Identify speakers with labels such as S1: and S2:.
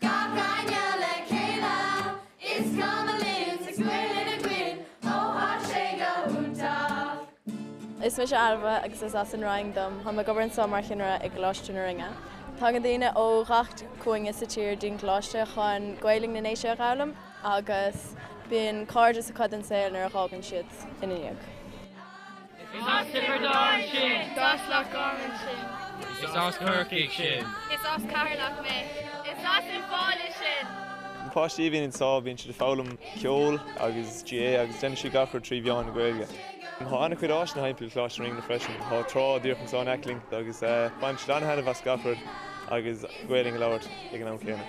S1: Gabh gainne le chéile is gabh mo linn is goil in a gcoinn ó tá sé go hiontach. Is mise Ailbhe agus is as an Fhraing dom. Táim ag obair anseo mar chinnire i gColáiste na Rinne. Tagann daoine ó ghach cúinne sa tír dtí'n gcoláiste chun Gaelainn na nDéise a dh'fhoghlaim agus bíonn cairdeas acu don saol nuair a dh'fhágann siad ina ndiaidh. Is as Tiobraid Árann sinn. Is as Loch Garman sinn. Is as Corcaigh sinn. Is as Ceatharlach mé. Is as an Bhaile sinn. Na páistí a bhíonn anso, bíonn siad ag foghlaim ceoil agus GAA agus déanann siad gach rud trí mheán na Gaeilge. Tá an-chuid áiseanna thimpeall Coláiste na Rinne freisin. Tá trá díreach anso in aice linn agus baineann siad an-thaitneamh as gach rud agus Gaoluinn a labhairt ag an am céanna.